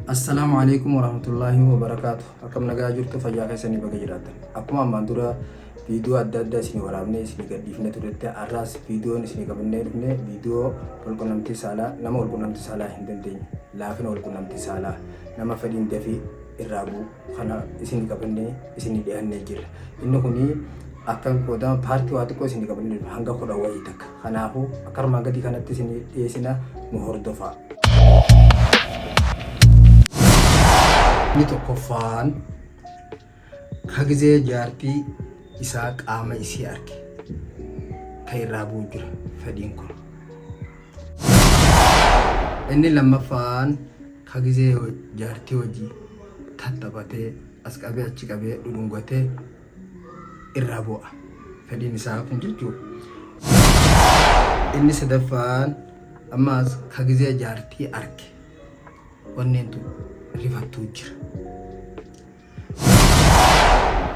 Assalaamu Aleeykum Warahmatullaahi Wabarakaatu Akkam nagaa jirtu fayyaa keessanii baga jiraatan akkuma ammaan dura viidiyoo adda addaa isinii waraabnee isinii gadhiifnee turetti har'aas viidiyoon isinii qabannee dhufne viidiyoo walqunnamtii saalaa nama walqunnamtii saalaa hin dandeenye laafina walqunnamtii saalaa nama fedhiin dafii irraa bu'u kana isin qabannee isin dhihannee jirra. Inni kun akka qoodama paartii waa xiqqoo isin qabannee jirra. hanga kudha wayii takka. Kanaafuu akka armaan gadii kanatti isin dhiyeessina nu hordofaa. Inni tokkoffaan ka gizee jaartii isaa qaama isii arge ka irraa bu'u jira fedhiin kun. Inni lammaffaan Ka gizee jaartii wajjii tattaphatee as qabee achi qabee dhudhungatee irraa bu'a. Fedhiin isaa kun jechuudha. Inni sadaffaan ammaas ka gizee jaartii arke wanneen tun rifattuu jira.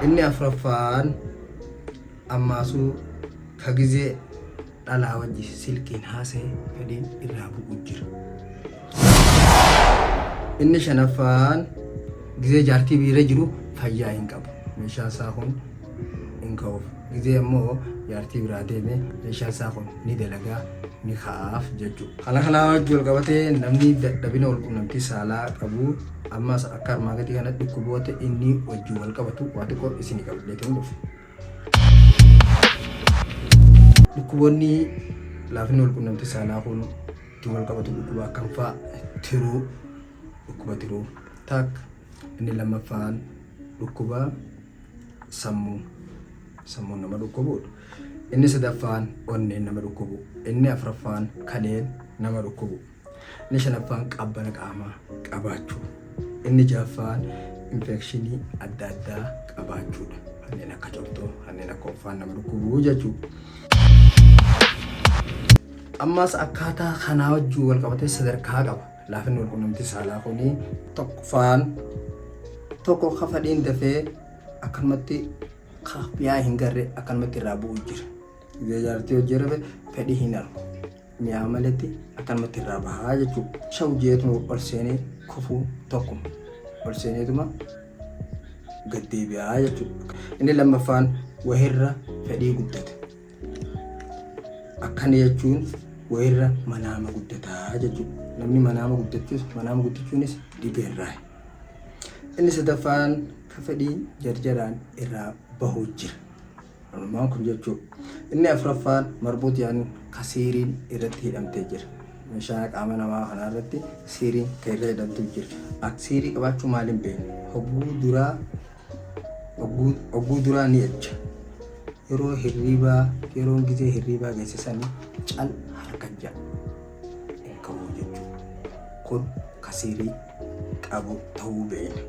Inni afraffaan ammaasuu ka gizee dhalaa wajji silkiin haasaye fedhiin irraa bu'u jira. Inni shanaffaan gizee jaartii biira jiru fayyaa hin qabu. Meeshaan isaa kun hin ka'uuf. Gizee ammoo jaartii biraa deeme meeshaan isaa kun ni dalagaa ni ka'aaf jechuudha. Kana kanaa wajji wal qabatee namni dadhabina walqunnamtii saalaa qabu Ammas akka armaa gadii kana dhukkuboota inni wajjin wal qabatu waa xiqqoo isinii qabadhee ta'uun dhufe. Dhukkuboonni laafinni wal qunnamtii saalaa kun ittiin wal qabatu dhukkuba akkam fa'a tiruu dhukkuba tiruu taak inni lammaffaan dhukkuba sammuu sammuun nama dhukkubuudha. Inni sadaffaan onneen nama dhukkubu inni afraffaan kaleen nama dhukkubu. Inni shanaffaan qaabbana qaamaa qabaachuu. Inni ja'affaan infeekshinii adda addaa qabaachuudha. Kanneen akka cortoo, kanneen akka offaan nama dhukkubuu jechuudha. Ammas akkaataa kanaa wajjin wal qabatee sadarkaa qaba. Laafinni wal qunnamtii saalaa kun tokkoffaan tokko ka fadhiin dafee akkanumatti ka mi'aa hin garre akkanumatti irraa bu'u jira. Yoo jaartii hojii rafe fedhii hin argu. mi'aa maletti akkanumatti irraa bahaa jechuudha. Shaw jeetuma ol seenee kufuu tokkuma. Ol seeneetuma gad deebi'aa jechuudha. Inni lammaffaan wahirra fedhii guddata. Akkana jechuun wahirra manaama guddataa jechuudha. Namni manaama guddachuus manaama guddachuunis dhibee irraa. Inni sadaffaan ka fedhii jarjaraan irraa bahuu jira. Walumaan kun jechuun. Inni afuraffaan marbuut yaani ka siiriin irratti hidhamtee jira. Meeshaa qaama namaa kanaa irratti siiriin ka irra hidhamtuu jira. Ak siirii qabaachuu maaliin beekna? Hogguu duraa hogguu hogguu duraa ni ejja. Yeroo hirriibaa yeroon gizee hirriibaa geesse sanii cal harka ja'a hin ka'uu jechuudha. Kun ka siirii qabu ta'uu beekna.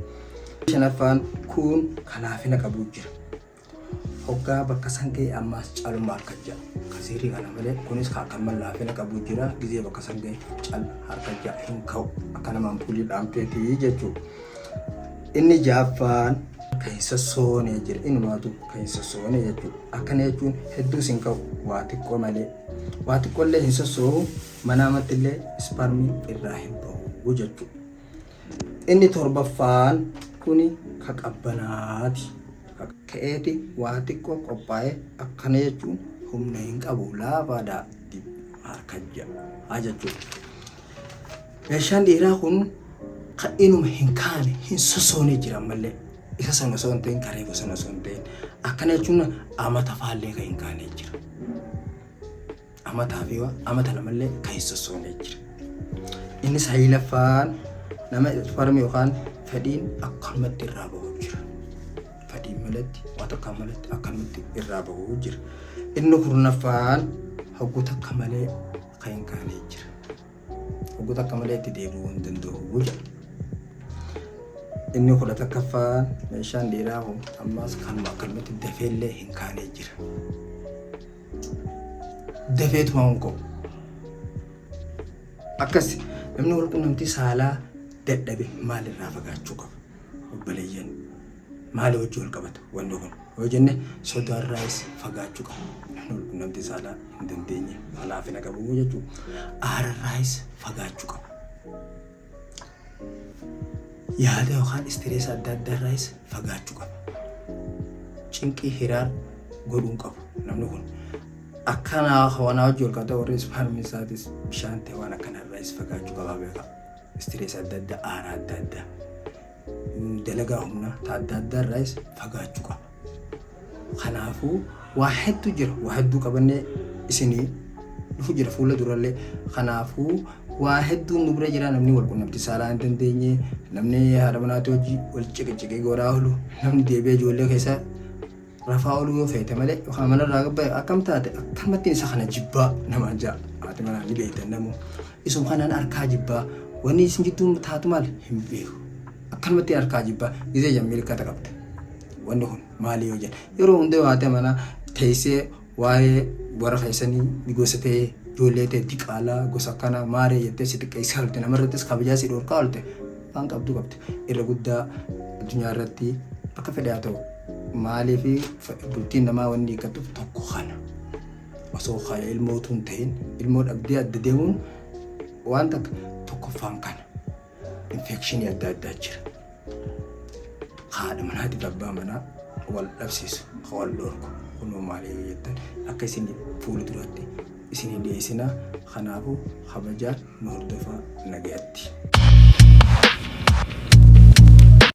Shanaffaan kun ka laafina qabuu jira. hoggaa bakka san ga'e ammaas caluma harka ja'a ka sihrii kana malee kunis ka akka mallaa fina qabu jira gizee bakka san ga'e cal harka ja'a hin ka'u akka nama ampuulii dhaamteeti jechuu inni jaaffaan kan hin sossoone jira inumaatu kan hin sossoone jechuu akkana jechuun hedduus hin ka'u waa xiqqoo malee waa xiqqoo illee hin sossoohu manaa mattillee isparmii irraa hin ba'u jechuu Inni torbaffaan kuni ka qabbanaati. Ka ka'eeti waa xiqqoo qophaa'e akkana jechuun humna hin qabu laafaadha harka ja'a jechuudha. Meeshaan dhiiraa kun ka inuma hin kaane hin sosoone jira ammallee. Isa sana osoo hin ta'in ka reefu sana osoo hin ta'in akkana jechuun amata faallee ka hin kaane jira. amataa fi waa amata namallee kan hin sossoone jira. Inni sayilaffaan nama farmi yookaan fedhiin akkanumatti irraa bahu jira. Fedhiin malatti waan takka malatti akkanumatti irraa bahu jira. Inni kurnaffaan hogguu takka malee kan hin kaane jira. Hogguu takka malee itti deebi'uu hin danda'u jira. Inni kudha takkaffaan meeshaan dhiiraa kun ammas kanuma akkanumatti dafeellee hin kaane jira. dafee tumamuun qabu. Akkas namni wal quunnamtii saalaa dadhabe maalirraa fagaachuu qaba? Obboleeyyan maal hojii wal qabata wanni kun? Yoo jenne sodaarraas fagaachuu qaba. Namni wal quunnamtii saalaa hin dandeenye laafina qabu jechuudha. Aararraas fagaachuu qaba. Yaada yookaan istireesa adda addaa irraayis fagaachuu qaba. Cinqii hiraar godhuun qabu namni kun. Akkanaa wanaa hojii ol qabata warri ispaarmii isaatis bishaan ta'e waan akkana irraayis fagaachuu qaba beekaa. Istireesa adda addaa, aara adda addaa. dalagaa humnaa ta adda addaa irraayis fagaachuu qabna. Kanaafuu waa hedduu jira. Waa hedduu qabannee isinii dhufu jira fuula durallee. Kanaafuu waa hedduun nu bira jira namni wal qunnamtii saalaa hin dandeenye, namni haadha manaatii hojii wal ciqiciqee godhaa oolu, namni deebi'ee ijoollee keessa Rafaa oluu yoo feete malee yookaan mana irraa gabbaa'e akkam taate akkamattiin isa kana jibbaa namaan ja'a haati manaa ni beektan namuu isuma kanaan harkaa jibbaa wanni isin jidduu taatu maal hin beeku akkanumattiin harkaa jibbaa gizee jammiilkata qabda wanni kun maali yoo jedhe yeroo hunda yoo haati manaa teessee Waa'ee warra keessanii ni gosa ta'e ijoollee ta'e diqaalaa gosa akkanaa maaree jettee si xiqqeessaa oolte namarrattis kabajaa si dhorkaa oolte waan qabdu qabdi irra guddaa addunyaa irratti akka fedhe haa ta'u maaliif bultiin namaa wanni eeggatuuf tokko kana osoo kana ilmoo utuu hin ta'in ilmoo dhabdee adda deemuun waan takka tokkoffaan kana. infeekshinii adda addaa jira. Haadha manaatiif abbaa manaa wal dhabsiisu, ka wal dhorku. Kunoo maali yoo jettan akka isin fuula duratti isin hin dhiyeessinaa. Kanaafuu kabajaan nu hordofaa nagayatti.